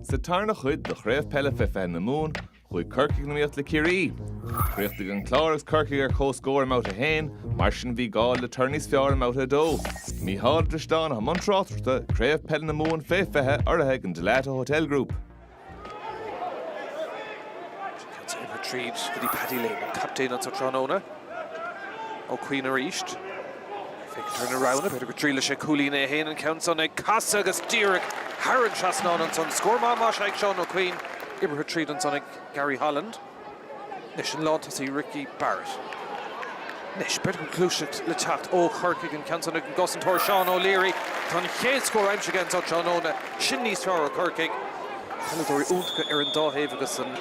Sa tarna chuid de Chraobh Peile fé fiche na Mumhan, chuaigh Corcaigh in iomaíocht le Ciarraí. Chríochnaigh an Clár agus Corcaigh ar comhscór i mBabhta 1, mar sin bhí gá le toradh níos fearr i mBabhta 2. Mícheál de Drisdeán a bhí i mbun tráchtaireachta Craobh Peile na Mumhan fé 20, urraithe ag an Dalata Hotel Group. Cuts and retrieves go dtí Paddy Lane, captaen an tráthnóna. Ó Cuinn arís. Féachaint ar na roghanna, b'fhéidir, go dtriailfidh sé cúilín é féin an ceann san, ag casadh agus díreach thar an trasnán ansan. Scór maith aimsithe ag Seán Ó Cuinn, oibrithe tríd ansan ag Gary Holland. Anois an lántosaí Ricky Barrett. Anois, b'fhéidir go bhfuil gluaiseacht le teacht ó Chorcaigh an ceann san ag an gcosantóir Seán O'Leary. Tá an chéad scór aimsithe aige anso tráthnóna. Sin níos fearr ó Chorcaigh. Peileadóirí iontacha ar an dá thaobh agus an.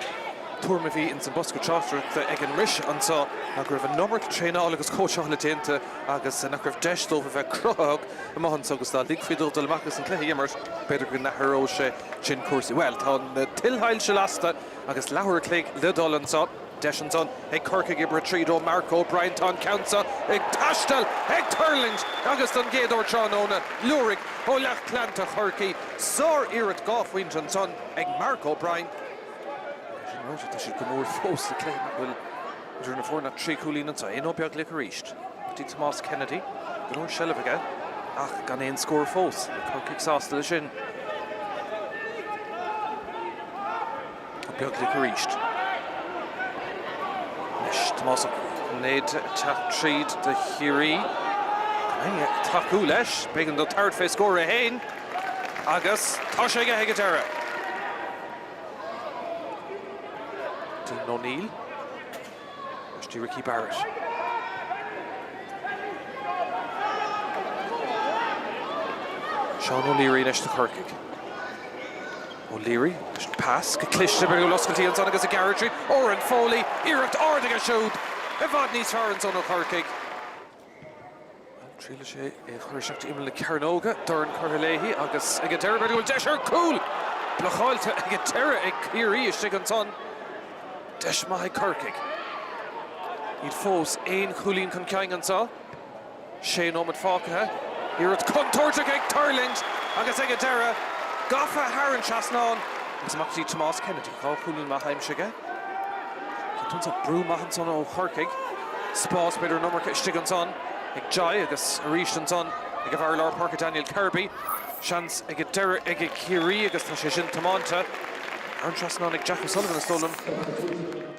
tuairim a bhí ins an bosca tráchtaireachta aige ann arís anseo ná go raibh an iomarca traenála agus cóitseála déanta agus nach raibh deis dóibh a bheith cruthaitheach amach anseo agus dá ligfí dóibh dul amach agus an cluiche a imirt b'fhéidir go n-athródh sé sin cúrsaí. Bhuel tá na tuilsoilse lasta agus leathuair a chloig le dul anseo. Deis ansan ag Corcaigh ag oibriú tríd do Mark O'Brien. Tá an ceann seo ag taisteal, ag tuirlingt agus don gcéad uair tráthnóna liúraigh ó lucht leanta Chorcaí sár-iarracht dhá phointe ansan ag Mark O'Brien. É sin ráite, tá siad go mór fós sa chluiche níl idir na foirne ach trí chúilín anseo. Ó Beaglaoich arís go dtí Tomás Kennedy. Go leor seilbh aige ach gan aon scór fós. Níl Corcaigh sásta leis sin. Ó Beaglaoich arís. Anois Tomás Ó Cinnéide ag teacht tríd do Chiarraí. Rinne ag tacú leis. B'éigean do tabhairt fé scór é féin agus tá sé aige ag an deireadh. Dylan O'Neill. Isteach go dtí Ricky Barrett. Seán O'Leary anois do Chorcaigh. O'Leary, leis an pas, go cliste súil oscailte ansan agus ag gearradh tríd Oran Foley, iarracht ard aige siúd i bhfad níos fearr ansan ó Chorcaigh. Ag triail sé é a chur isteach timpeall na cearnóige, dorn curtha léi agus ag an deireadh b'fhéidir go bhfuil deis ar chúl! Blocáilte ag an deireadh ag Ciarraí istigh ansan. Deis maith ag Corcaigh. Iad fós aon chúilín chun cinn anseo. Sé nóiméad fágtha. Iarracht chontúirteach ag tuirlingt agus ag an deireadh gafa thar an trasnán agus amach go dtí Tomás Kennedy. Dhá chúilín maithe aimsithe ag Tomás. Brú maith ansan ó Chorcaigh. Spás, b'fhéidir an iomarca istigh ansan ag Jai agus arís ansan ag an bhfear lár páirce Daniel Kirby. Seans ag an deireadh ag Ciarraí agus tá sé sin tiománta. Thar an trasnán ag Jack O'Sullivan is dóigh liom.